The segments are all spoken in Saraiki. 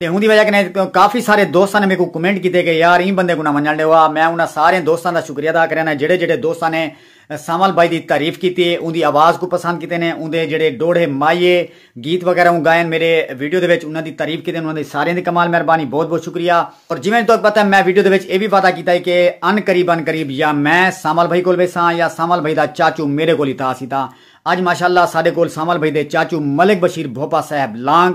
تے اوندی وجہ کنے کافی سارے دوستاں نے میکوں کمنٹ کیتے کہ یار ایں بندے کوں نہ ونجنڑ ڈیو آ میں انہاں سارے دوستاں دا شکریہ ادا کرینداں جیڑھے جیڑھے دوستاں نے سانول بھائی دی تعریف کیتی ہے اوندی آواز کوں پسند کیتے نے اوندے جیڑھے ڈوہڑے مائیے گیت وغیرہ اوں گائن میڈے ویڈیو دے وچ انہاں دی تعریف کیتے انہاں دی ساریاں دی کمال مہربانی بہت بہت شکریہ اور جیویں تہاکوں پتہ ہے میں ویڈیو دے وچ اے وی وعدہ کیتا ہے کہ ان قریب ان قریب یا میں سانول بھائی کول ویساں یا سانول بھائی دا چاچو میڈے کول اتھاں اسی تاں اج ماشاءاللہ ساڈے کول سانول بھائی دے چاچو ملک بشیر بھوپا صاحب لانگ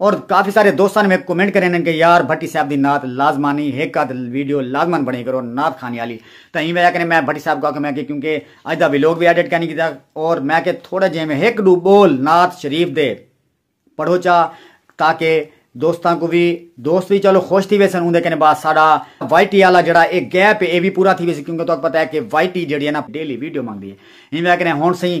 اور کافی سارے دوستاں میکوں کمنٹ کرے ہن کہ یار بھٹی صاحب دی نعت لازمانی ہک ادھ ویڈیو لازمن بنائی کرو نعت خانی آلی تاں ایں وجہ کنے میں بھٹی صاحب کوں آکھیا میں کہ کیونکہ اج دا ویلوگ وی ایڈٹ کینی کیتا اور میں کہ تھوڑے جے میں ہک ڈو بول نعت شریف دے پڑھو چا تاکہ دوستاں کوں وی دوست وی چلو خوش تھی ویسن اوندے کنے بعد ساڈا وائی ٹی آلا جڑا اے گیپ اے وی پورا تھی ویسی کیونکہ تہاکوں پتہ اے کہ وائی ٹی جڑی اے نا ڈیلی ویڈیو منگدی اے ایں وجہ کنے ہن سئیں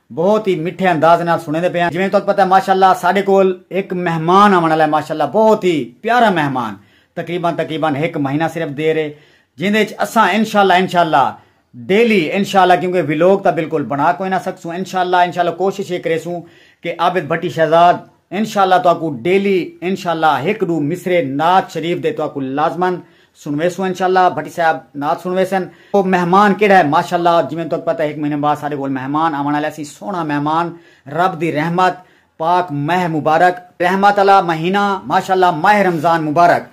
بہت ہی مٹھے انداز نال سنڑیندے پے آں جیویں تہاکوں پتہ ہے ماشاءاللہ ساڈے کول ہک مہمان آونڑ آلا ہے ماشاءاللہ بہت ہی پیارا مہمان تقریبا تقریبا ہک مہینہ صرف دیر ہے جیندے اچ اساں انشاءاللہ انشاءاللہ ڈیلی انشاءاللہ کیونکہ ویلوگ تاں بالکل بنڑا کوئی نہ سکسوں انشاءاللہ انشاءاللہ کوشش اے کریسوں کہ عابد بھٹی شہزاد انشاءاللہ تہاکوں ڈیلی انشاءاللہ ہک ڈو مصرعے نعت شریف دے تہاکوں لازما سنویسوں انشاءاللہ بھٹی صاحب نعت سنویسن۔ او مہمان کیڑھا ہے ماشاءاللہ جیویں تہاکوں پتہ ہے ہک مہینے بعد ساڈے کول مہمان آوݨ آلے اسی سوہݨا مہمان رب دی رحمت پاک مہہ مبارک رحمت آلا مہینہ ماشاءاللہ ماہ رمضان مبارک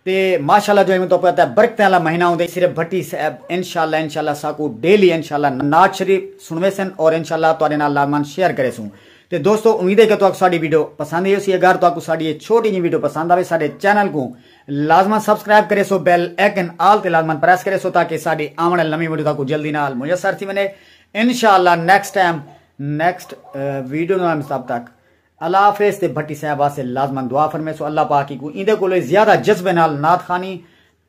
تے ماشاءاللہ جو ایویں تہاکوں پتہ ہے برکتیں آلا مہینہ ہوندے صرف بھٹی صاحب انشاءاللہ انشاءاللہ ساکوں ڈیلی انشاءاللہ نعت شریف سنویسن اور انشاءاللہ تہاڈے نال لازمان شیئر کریسوں تے دوستو امید ہے کہ تہاکوں ساڈی ویڈیو پسند ای ہوسی اگر تہاکوں ساڈی اے چھوٹی جیں ویڈیو پسند آوے ساڈے چینل کوں لازمن سبسکرائب کریسو بیل ایکن آل تے لازمن پریس کریسو تاکہ ساڈی آون آلی نویں ویڈیو تہاکوں جلدی نال میسر تھی ونجے انشاءاللہ نیکسٹ ٹائم نیکسٹ ویڈیو نال تب تک اللہ حافظ تے بھٹی صاحب واسطے لازمن دعا فرمیسو اللہ پاک ہی کو ایندے کولے زیادہ جذبے نال نعت خانی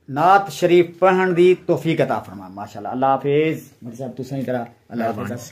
نعت شریف پڑھن دی توفیق عطا فرما ماشاءاللہ اللہ حافظ بھٹی صاحب تساں ہی کرا اللہ حافظ